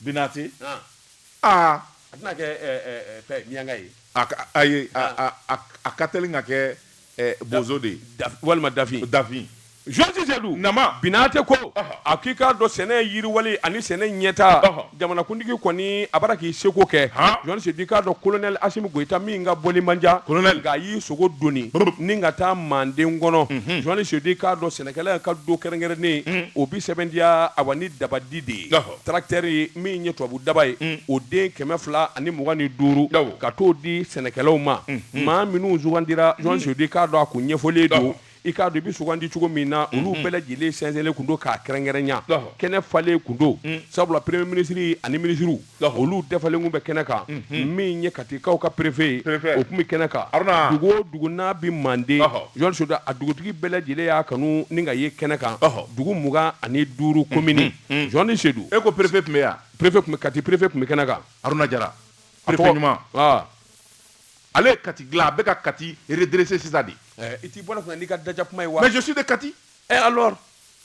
Binate aa a tɛna kɛ miyanka ye ayi a ka teli ka kɛ bozo de ye walima dafin dafin Georges Seydou nama Binate ko a k'i k'a dɔn sɛnɛ yiriwali ani sɛnɛ ɲɛtaa jamanakuntigi kɔni a bara k'i seko kɛ Georges Seydou i k'a dɔn kolonɛli asimi goyita min ka bɔli man ca nka a y'i sogo dɔɔnin ka taa manden kɔnɔ Georges Seydou i k'a dɔn sɛnɛkɛla ka don kɛrɛnkɛrɛnnen o bɛ sɛbɛntiya a wa ni dabadi de ye tracteur min ye tubabu daba ye o den kɛmɛ fila ani mugan ni duuru ka t'o di sɛnɛkɛlaw ma maa minnu sugandira Georges Seydou i k'a dɔn a kun ɲɛfɔlen don i k'a dɔn i bɛ sugandi cogo min na olu bɛɛ lajɛlen sɛnsɛnlen kun don k'a kɛrɛnkɛrɛnya kɛnɛ falen kun don sabula premier ministre ani minisiriw olu dafalen kun bɛ kɛnɛ kan min ye katikaw ka perefe ye o kun bɛ kɛnɛ kan dugu o dugu n'a bɛ manden Georges Seydou a dugutigi bɛɛ lajɛlen y'a kanu ni ka ye kɛnɛ kan dugu mugan ani duuru komini Hmm. Georges Seydou e ko perefe tun bɛ yan perefe tun bɛ kati perefe tun bɛ kɛnɛ kan haruna jara perefe ɲuman ah. ale ye kati dilan a bɛ ka kati redresse sisan de eh, i t'i bɔ ne kunna n'i ka daja kuma ye wa mais je suis de kati eh alors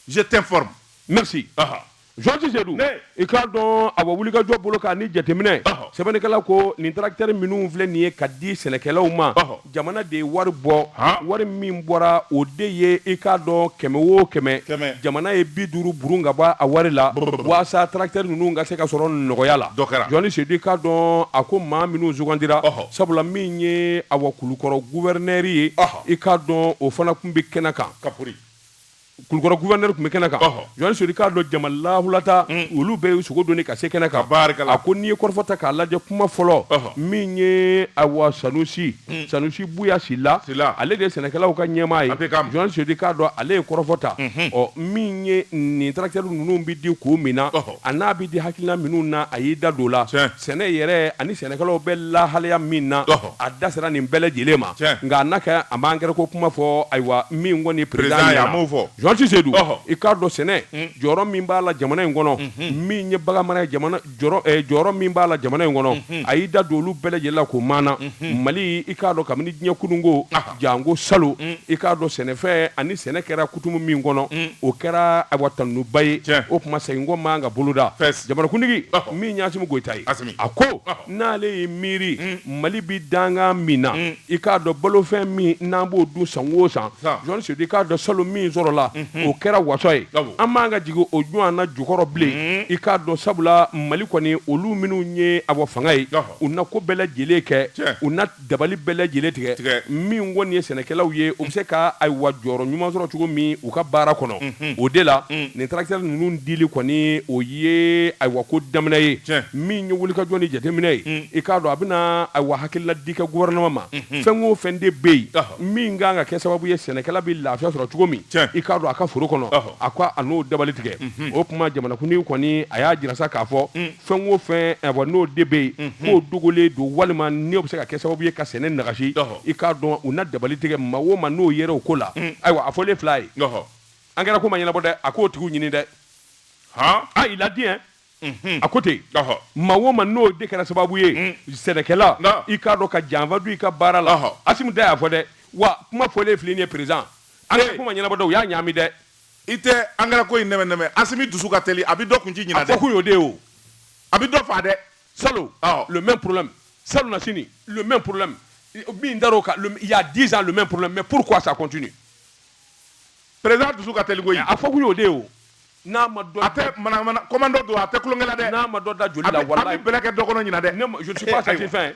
je t'informe merci aha Georges Seydou i k'a dɔn a wa wuli ka jɔ bolo kan ni jateminɛ sɛbɛnnikɛla ko nin tracteur minnu filɛ nin ye ka di sɛnɛkɛlaw ma jamana de ye wari bɔ wari min bɔra o de ye i k'a dɔn kɛmɛ o kɛmɛ jamana ye bi duuru burun ka bɔ a wari la walasa tarakitɛri ninnu ka se ka sɔrɔ nɔgɔya la journaliste Sedu i k'a dɔn a ko maa minnu sugandira sabula min ye awa Kulukɔrɔ guwɛrɛnɛri ye i k'a dɔn o fana kun bɛ kɛnɛ kan kulukɔrɔ gouverneur kun bɛ kɛnɛ kan Ɔhɔ. journaliste Sedu i k'a dɔn jama lahulata olu bɛɛ y'u sogo doni ka se kɛnɛ kan Tabarikala. a ko n'i ye kɔrɔfɔ ta k'a lajɛ kuma fɔlɔ Ɔhɔ. min ye awa sanusi sanusi buya sila Sila. ale de ye sɛnɛkɛlaw ka ɲɛmaa ye A bɛ k'a ma. journaliste Sedu i k'a dɔn ale ye kɔrɔfɔ ta ɔ min ye nin tracteurs ninnu bɛ di kun min na Ɔhɔ. a n'a bɛ di hakilina minnu na a y'i da don o la Tiɲɛ. sɛnɛ yɛrɛ ani sɛnɛkɛlaw bɛ lahalaya min na a da sera nin bɛɛ lajɛlen ma nka a n'a kɛ a ma angɛrɛ ko kuma fɔ ayiwa min kɔni président journaliste Sedu i k'a dɔn sɛnɛ jɔyɔrɔ min b'a la jamana in kɔnɔ min ye baganmara jɔyɔrɔ min b'a la jamana in kɔnɔ a y'i da don olu bɛɛ lajɛlen la ko maana mali i k'a dɔn kabini diɲɛ kununko janko salo i k'a dɔn sɛnɛfɛn ani sɛnɛ kɛra kutumu min kɔnɔ o kɛra awa tanuba ye o tuma seginkɔ man ka boloda jamanakuntigi min ye Asimi Goyita ye a ko n'ale ye miiri mali bɛ dangan min na i k'a dɔn balofɛn min n'an b'o dun san o san journaliste Sedu i k'a dɔn salo min sɔrɔla o kɛra waso ye an man kan ka jigin o ɲɔgɔnna jukɔrɔ bilen i k'a dɔn sabula mali kɔni olu minnu ye a fanga ye u na ko bɛɛ lajɛlen kɛ u dabali bɛɛ lajɛlen tigɛ min kɔni ye sɛnɛkɛlaw ye u bɛ se ka ayiwa jɔyɔrɔ ɲuman sɔrɔ cogo min u ka baara kɔnɔ o de la nin tracteur ninnu dili kɔni o ye ayiwa ko daminɛ ye min ye wulikajɔ ni jateminɛ ye i k'a dɔn a bɛna ayiwa hakilina di kɛ gouvernement ma fɛn o fɛn de bɛ yen min ka kan ka kɛ sababu ye sɛnɛkɛla bɛ lafiya sɔrɔ cogo min i k'a dɔn a ka foro kɔnɔ a ko a n'o dabali tigɛ o kuma jamanakuntigi kɔni a y'a jira sa k'a fɔ fɛn o fɛn awa n'o de bɛ yen k'o dogolen don walima n'o bɛ se ka kɛ sababu ye ka sɛnɛ nagasi i k'a dɔn u na dabali tigɛ maa o maa n'o yɛrɛ o ko la ayiwa a fɔlen filɛ ye angɛrɛ ko ma ɲɛnabɔ dɛ a k'o tigiw ɲini dɛ a i ladi a ko ten maa o maa n'o de kɛra sababu ye sɛnɛkɛla i k'a dɔn ka janfa don i ka baara la Asimi da y'a fɔ dɛ wa kuma fɔlen filɛ nin ye président angɛrɛ ko ma ɲɛnabɔ dɛ u y'a ɲaami dɛ i tɛ angɛrɛ ko in nɛmɛ nɛmɛ asimi dusu ka teli a bɛ dɔ kun ci ɲinan dɛ a fɔ kun y'o de ye o a bɛ dɔ faa dɛ salo le même problème salo na sini le même problème min dar'o kan il y a 10 ans le même problème mais pourquoi ça continue président dusu ka teli koyi a fɔ kun y'o de ye o n'a ma dɔ a tɛ manamana commando don a tɛ tulonkɛ la dɛ n'a ma dɔ da joli la walayi a bɛ bɛlɛ kɛ dɔ kɔnɔ ɲinan dɛ ne je ne suis pas satisfait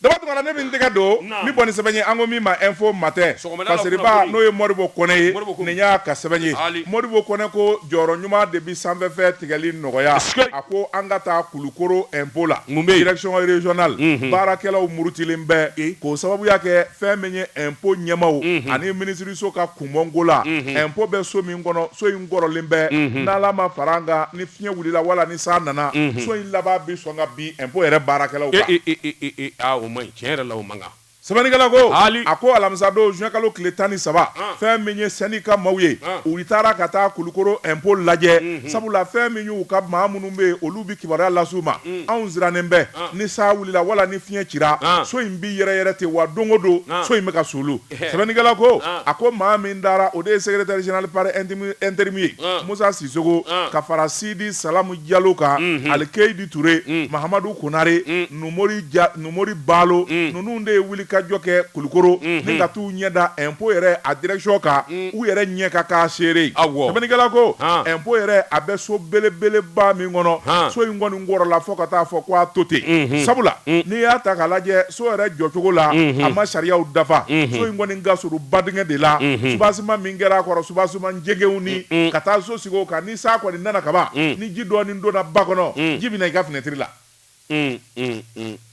Daba tunkara ne bɛ n tɛgɛ don n bɛ bɔ ni sɛbɛn ye an ko min ma info matin kariba n'o ye modibo kɔnɛ ye nin y'a ka sɛbɛn ye modibo kɔnɛ ko jɔyɔrɔ ɲuman de bɛ sanfɛfɛn tigɛli nɔgɔya a ko an ka taa kulukoro impôt la impôt direction régionale baarakɛlaw murutilen bɛ k'o sababuya kɛ fɛn min ye impôt ɲɛmaaw ani minisiriso ka kunbɔko la impôt bɛ so min kɔnɔ so in kɔrɔlen bɛ n'ala ma fara an kan ni fiɲɛ wulila wala ni san nana so in laban bɛ sɔn ka bin impôt yɛrɛ baarakɛlaw kan. E e e e e aa o man ɲi tiɲɛ yɛrɛ la o man kan. Sɛbɛnnikɛla ko. Haali. A ko alamisa don juin kalo tile tan ni saba. An. Fɛn min ye syndicat maaw ye. An. U taara ka taa Kulukoro impôt lajɛ. Unhun. Sabula fɛn min y'u ka maa minnu bɛ yen olu bɛ kibaruya lase u ma. Un. Anw sirannen bɛ. An. Ni san wulila wala ni fiɲɛ cira. An. So in bɛ yɛrɛyɛrɛ ten wa don o don. An. So in bɛ ka suulu. sɛbɛnnikɛla ko a ko maa min taara o de ye secrétaire général par intérim ye musa sisoko ka fara sidi salamu jalo kan alikeyidi ture mahamadu konare numori balo ninnu de ye wuli ka jɔ kɛ kulukoro ni ka taa u ɲɛ da impôt yɛrɛ a direction kan u yɛrɛ ɲɛ ka k'a seere sɛbɛnnikɛla ko impôt yɛrɛ a bɛ so belebeleba min kɔnɔ so in kɔni kɔrɔla fo ka taa fɔ ko a to ten sabula n'i y'a ta k'a lajɛ so yɛrɛ jɔcogo la a ma sariyaw dafa so in kɔni ka surun badingɛ de la soubassement min kɛra a kɔrɔ soubassement jɛgɛw ni ka taa so sigi o kan ni san kɔni nana kaban ni ji dɔɔni donna ba kɔnɔ ji bɛna i ka finɛtiri la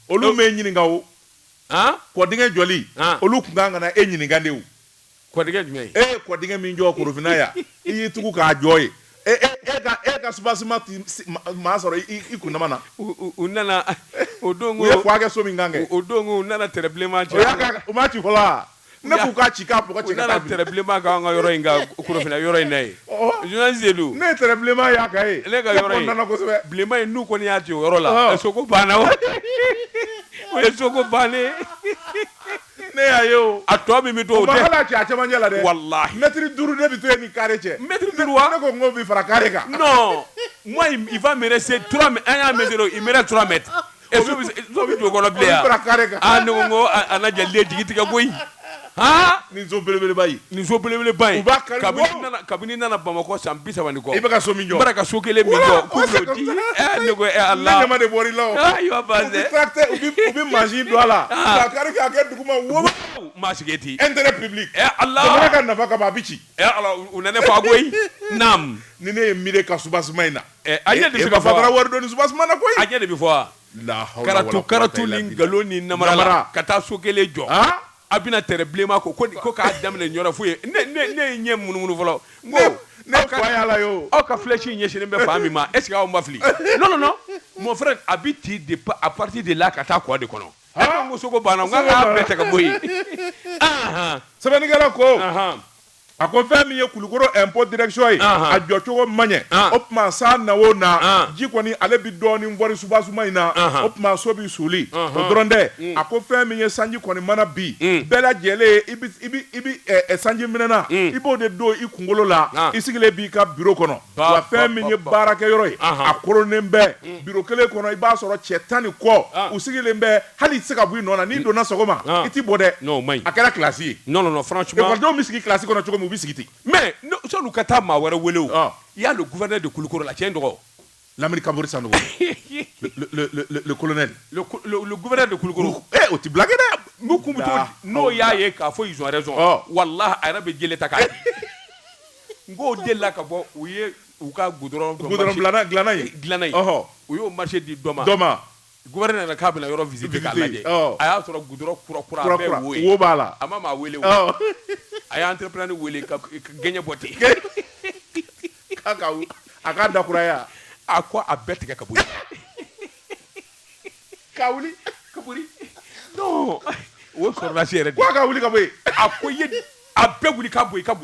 olu m'e ɲininka o kɔdingɛ jɔli olu tun kan ka na e ɲininka de Kɔdingɛ jumɛn? E ye kɔdingɛ min jɔ Korofina yan, i y'i tugu k'a jɔ yen. E e e ka e ka soubassement tun se maa sɔrɔ i i kundama na. U u u nana o don ko. U ye croix kɛ so min kan kɛ. O don ko u nana tɛrɛ bilenman ci. O y'a ka u m'a ci fɔlɔ wa? Ne k'u k'a ci k'a bɔgɔ cɛ ka taa. U nana tɛrɛ bilenman k'an ka yɔrɔ in kan Korofina yɔrɔ in na yen. Ɔhɔ! Journaliste de don. Ne ye tɛrɛ bilenman y'a kan yen. Ne ka yɔrɔ in. Ne content na kosɛbɛ. Bilenman in n'u kɔni y'a ci o yɔrɔ la. Ɔhɔ! Soko banna o. O ye soko bannen ye. ne y'a ye o a tɔ min bɛ to o tɛ hali a cɛ a cɛmancɛ la dɛ walahi mɛtiri duuru ne bɛ to yen ni kare cɛ mɛtiri duuru wa ne ko n k'o bi fara kare kan non moi il va me rester trois mètres an y'a mesurer il me reste trois mètres et so bɛ don o kɔnɔ bilen yan fara kare kan ah ne ko n ko a na jali de jigi tigɛ koyi haa nin so belebeleba ye Nin so belebeleba in kabini nana bamakɔ san bisaba ni kɔ i bɛ ka so min jɔ ka so kelen min la ko e de mansin don a la k'a kari k'a kɛ duguma wo maa si ten intérêt public ala jamana ka nafa kama a bɛ ci u ne fa koyi ni ne ye miiri ka soubassement in na a ɲɛ de ka fara wari dɔɔni soubassement na ko a ɲɛ de bɛ fɔ karatu karatu ni nkalon ni namara la ka taa so kelen jɔ A bɛna tɛrɛ bilenman ko ko ko k'a daminɛ Ɲɔrɔ foyi ye ne ye ɲɛ munumunu fɔlɔ n ko aw ka filɛsi ɲɛsinnen bɛ fan min ma est-ce que aw ma fili non mon frère a bɛ ti de à partir de là ka taa kɔ de kɔnɔ n ko soko banna a bɛɛ tɛ ka bɔ yen sɛbɛnnikɛla ko a ko fɛn min ye Kulukoro ɛnpo direction ye a jɔ cogo man ɲɛ o tuma san na o na ji kɔni ale bɛ dɔɔnin fɔɔri subasuma in na o tuma so bɛ suuli o dɔrɔn tɛ a ko fɛn min ye sanji kɔni mana bin bɛɛ lajɛlen i bɛ sanji minɛnan i b'o de don i kunkolo la i sigilen b'i ka biro kɔnɔ wa fɛn min ye baarakɛ yɔrɔ ye a koronnen bɛ biro kelen kɔnɔ i b'a sɔrɔ cɛ tan ni kɔ u sigilen bɛ hali i tɛ se ka bɔ i nɔ na n'i mm. donna sɔgɔma ah. i t'i bɔ dɛ non o man ɲi a kɛra kilasi ye non non non franchement ekɔlidenw bɛ sigi kilasi kɔnɔ cogo min u bɛ sigi ten mais sɔni ka taa maa wɛrɛ wele o ah. il y a le gouverneur de Kulukoro la tiɲɛ dɔgɔ Lamini Kapori Sanogo le le le le colonel le le gouverneur de Kulukoro eh o tɛ blague dɛ n'u kun bɛ cogo di n'o y'a ye k'a fɔ ils ont raison ah. walahi a yɛrɛ bɛ jele ta k'a ye n k'o delila ka bɔ u ye u ka goudron goudron dilanna dilanna ye dilanna ye ɔhɔ u y'o marché di dɔ ma dɔ ma Gouverneur nana k'a bɛna yɔrɔ visiter k'a lajɛ a y'a sɔrɔ goudron kura wo b'a la a ma maa weele a y'entrepreneur weele ka gɛɲɛ bɔ ten a ka dakuraya a ko a bɛɛ tigɛ ka bɔ ka wuli ka olasi yɛrɛ ka wuli ka a ko a bɛɛ wuli ka bɔ i ka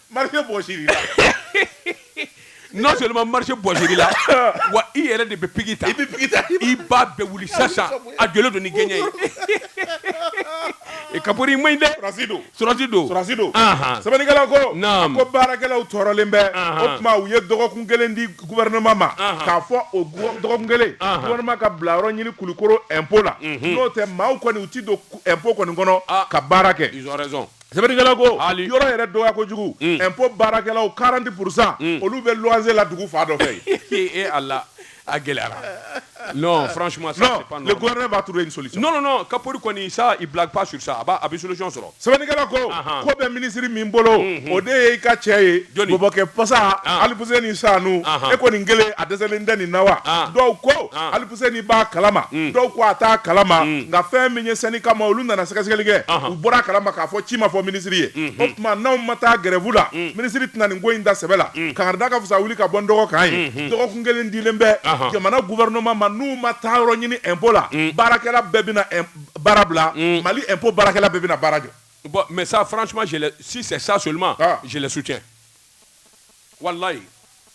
Marché bɔsil'i la non seulement marché bɔsil'i la wa i yɛrɛ de bɛ piki ta i bɛ piki ta i b'a bɛɛ wuli sisan a jɔlen don ni gɛɲɛ ye Kapori man ɲi dɛ sɔrɔsi don sɔrɔsi don sɔrɔsi don sɛbɛnnikɛla ko naam ko baarakɛlaw tɔɔrɔlen bɛ o tuma u ye dɔgɔkun kelen di gouvernement ma k'a fɔ o dɔgɔkun kelen gouvernement ka bila yɔrɔ ɲini Kulikoro impôt la n'o tɛ maaw kɔni u tɛ don impôt kɔni kɔnɔ ka baara kɛ ils ont raison Sɛbɛnnikɛla ko hali yɔrɔ yɛrɛ dɔgɔya kojugu ko baarakɛlaw 40 pour 100 olu bɛ luwanse la dugu fan dɔ fɛ Ala a gɛlɛyara non franchement ça c'est pas normal le gouvernement va trouver une solution non non non Kapori kɔni ça il blague pas sur ça a b'a a bɛ solution sɔrɔ sɛbɛnnikɛla ko ko bɛ minisiri min bolo o de ye i ka cɛ ye jɔni bɔbɔkɛ pasa Alifuseni Sanu e ko nin kelen a dɛsɛlen tɛ nin na wa dɔw ko ni b'a kalama mm. dɔw ko a t'a kalama mm. nka fɛn min ye syndicat maa olu nana sɛgɛsɛgɛli kɛ u bɔra a kalama k'a fɔ ci ma fɔ minisiri ye mm-hmm. o tuma n'anw ma taa gɛrɛvu la mm. minisiri tɛna nin ko in da sɛbɛ la kangari da ka fisa wuli ka bɔ n dɔgɔ kan ye mm-hmm. dɔgɔkun kelen dilen bɛ jamana guvɛrɛnɛman ma n'u ma taa yɔrɔ ɲini ɛnpo la baarakɛla bɛɛ bɛna baara bila Mali ɛnpo baarakɛla bɛɛ bɛna baara jɔ bon mais ça franchement je si c'est ça seulement ah. je le soutiens walayi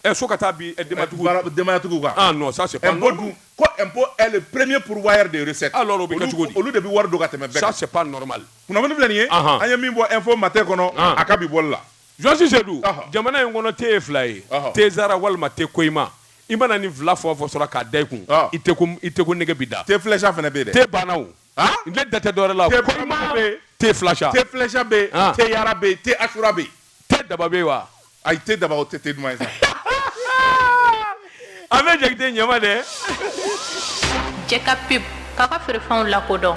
ɛ fo ka taa bi ɛ, denbayatigiw Baara- denbayatigiw kan ah non ça c'est pas impôt dun ko impôt est le premier pourvoyeur de recette Alors, o bɛ kɛ Olu- cogo di? olu de bɛ wari don ka tɛmɛ bɛɛ ça kan c'est pas normal kunnafoni filɛ nin ye Ahan. an ye min bɔ info matin kɔnɔ Ah. a ka bi bɔli la Jɔsi Sedu Ɔhɔ. jamana in kɔnɔ te ye fila ye Ɔhɔ. te zara walima te koima i mana nin fila fɔ o fɔ sɔrɔ k'a da i kun Ɔhɔ. i te ko i te ko nege b'i da te flèche fana bɛ yen dɛ te banna o n tɛ da te dɔwɛrɛ la te balima bɛ te filasa te filasa bɛ te yara bɛ te asura bɛ te daba bɛ wa ayi te daba o tɛ te duman ye an bɛ jɛgɛden ɲɛma dɛ jɛ ka pub k'a ka feerefɛnw lakodɔn